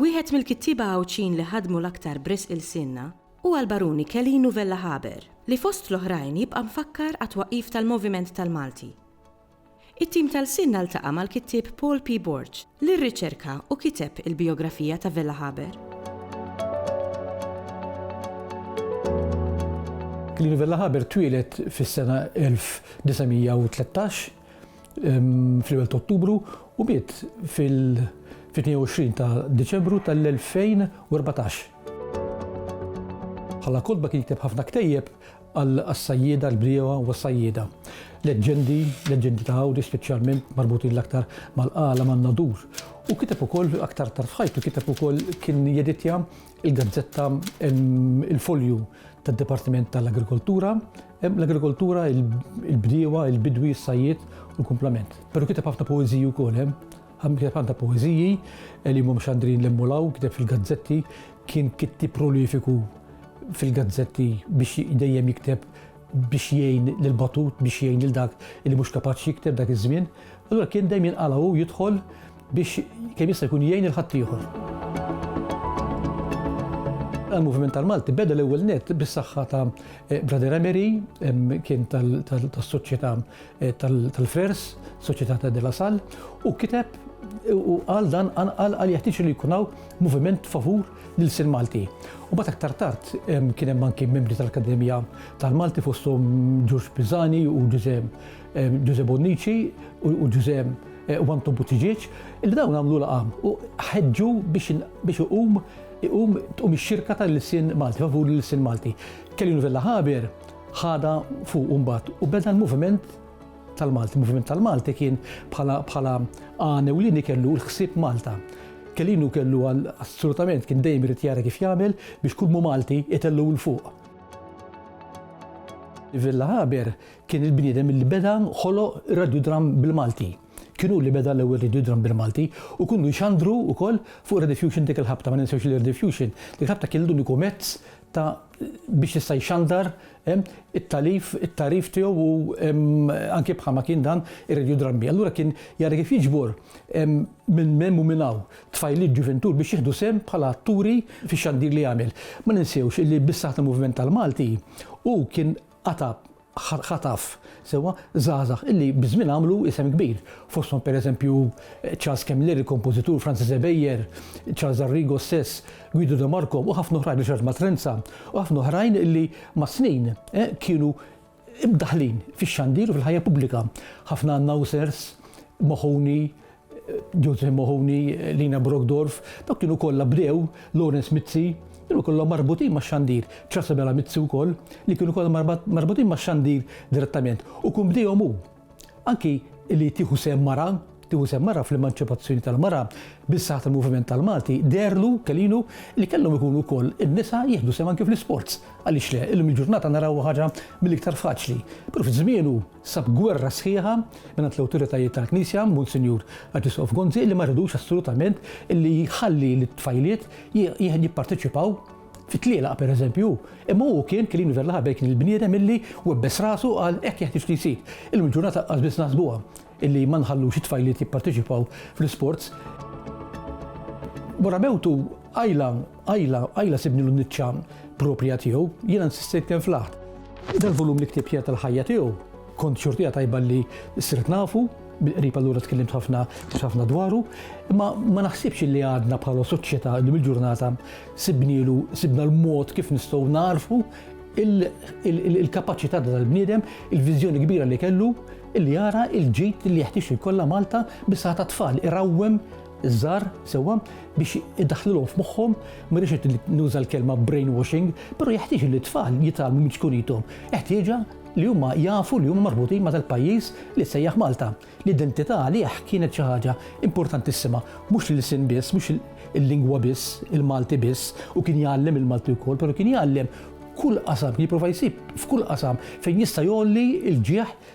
Wieħed mill-kittieba Għawdxin li ħadmu l-aktar b'risq ilsienna huwa l-Baruni Kelinu Vella Haber, li fost l-oħrajn jibqa' mfakkar għat-twaqqif tal-Moviment tal-Malti. It-tim ta' lsienna ltaqa' mal-kittieb Paul P. Borg, li rriċerka u kiteb il-bijografija ta' Vella Haber. Clelia Vella Haber twieled fis-sena 1913 fl-ewwel ta' Ottubru u miet fil-22 ta' Diċembru tal-2014. Bħala kotba kien jikteb ħafna ktejjeb għas-sajjieda, l-bdiewa u s-sajjieda. Leġġendi, leġġendi ta' Għawdex speċjalment marbutin l-aktar mal-qala, man-Nadur. U kiteb ukoll, aktar tard f'ħajtu, kiteb ukoll kien jeditja l-gazzetta Il-Folju tad-Dipartiment tal-Agrikoltura, l-agrikoltura, il-bdiewa, il-bidwi, is-sajjied u l-kumplament. Però kiteb ħafna poeżiji wkoll. Kiteb anke poeżiji li mhumiex għandrin l-hemm u l-hawn, kiteb fil-gazzetti, kien kittieb prolifiku fil-gazzetti biex dejjem jikteb biex jgħin lil batut, biex jgħin lil dak li mhux kapaċi jikteb dak iż-żmien. Allura kien dejjem jinqala' hu jidħol biex kemm jista' jkun jgħin il-ħaddieħor. Il-moviment tal-Malti beda l-ewwel nett bis-saħħa ta' Brother Emery, kien tas-Soċjetà eh, tal-Frers, Società de la Salle, u kiteb u għal dan għal għal jeħtieġ li jkun hawn moviment favur lil sin Malti. U bat aktar tard kien hemm anki membri tal-Akkademija tal-Malti fosthom Ġuġ Pizzani u Ġuże Ġuże Bonnici u Ġuże eh, u Anton Buttiġieġ li dawn għamlu laqam u ħeġġu biex iqum iqum tqum ix-xirka tal-lisin Malti favur l-lisin Malti. Kelly Novella Haber ħadha fuqu mbagħad u beda l-moviment tal-Malti. Il-moviment tal-Malti kien bħala għan ewlieni kellu l-ħsieb Malta. Kellinu kellu assolutament kien dejjem irid jara kif jagħmel biex kull mu Malti itellu l fuq. Villa Haber kien il-bniedem li beda ħolo radiodram bil-Malti. Kienu li beda l-ewwel radiodram bil-Malti u kienu jxandru wkoll fuq Rediffusion dik il-ħabta ma ninsewx li Rediffusion. Dik ħabta kien l-uniku mezz ta' biex jista' jxandar it-talif, it-tagħrif tiegħu u anke bħalma kien dan ir-Radio Drammi. Allura kien jara kif jiġbor minn hemm u minn hawn tfajliet ġuventur biex jieħdu sehem bħala atturi fix-xandir li jagħmel. Ma ninsewx li bis-saħħa tal-moviment tal-Malti hu kien qata' ħa taf sewwa żgħażagħ illi biż-żmien għamlu isem kbir. Fosthom pereżempju Charles Kemmler, il-kompożitur, Francis Ebejer, Charles Arrigo stess, Guido De Marco u ħafna oħrajn Richard Matrenza u ħafna oħrajn illi mas-snin eh, kienu imdaħlin fix-xandir u fil-ħajja pubblika. Ħafna announcers, Mahoney, Joseph Mahoney, Lina Brockdorff, dawk kienu kollha brew, Lawrence Mizzi, kienu kollha marbutin ma' xandir, Trasabella Mizzi wkoll, li kienu kollha marbutin ma' xandir direttament. U kun bdejhom hu. Anki li tieħu sem mara, tieħu sem mara fl-emanċipazzjoni tal-mara, bis-saħħa tal-moviment tal-Malti, deherlu, kelinu, li kellhom ikunu wkoll in-nisa jieħdu sem anki fl-isports. Għaliex le? Illum il-ġurnata narawha ħaġa mill-iktar faċli. Però fi żmienu, sab gwerra sħiħa mingħand l-awtoritajiet tal-Knisja, Munsinjur Arċisqof Gonzi, li ma ridux assolutament illi jħalli lit-tfajliet jipparteċipaw fit-tlielaq pereżempju hu. Imma hu kien Kilin Verla Ħabel kien il-bniedem illi webbes rasu u qal hekk jeħtieġ li jsir. Illum il-ġurnata qas biss naħsbuha illi ma nħallux it-tfajliet jipparteċipaw fl-isports. Wara mewtu qajla Ajla, ajla sibnilu n-niċċa proprja tiegħu, jiena nsistejt kemm flaħt. Dal-volum li ktibt jgħid tal-ħajja tiegħu, kont xortija tajba li sirt nafu, bil-qrib allura tkellimt ħafna ħafna dwaru, imma ma naħsibx li għadna bħala soċjetà li mill-ġurnata sibnilu sibna l-mod kif nistgħu narfu il-kapaċità tal-bniedem, il-viżjoni kbira li kellu li jara il-ġid li jeħtieġ ikollha Malta bis-saħħa tat-tfal, irawwem iż-żgħar, sewwa, biex idaħħlilhom f'moħħhom, ma rridx ngħid li nuża l-kelma brainwashing, però jeħtieġ li t-tfal jitgħallmu minn ċkunithom. Ħtieġa li huma jafu li huma marbutin ma' dal-pajjiż li jissejjaħ Malta. L-identità għalih kienet xi ħaġa importantissima, mhux l-ilsien biss, mhux il-lingwa biss, il-Malti biss, u kien jgħallem il-Malti wkoll, però kien jgħallem kull qasam, kien jipprova jsib f'kull qasam fejn jista' jgħolli l-ġieħ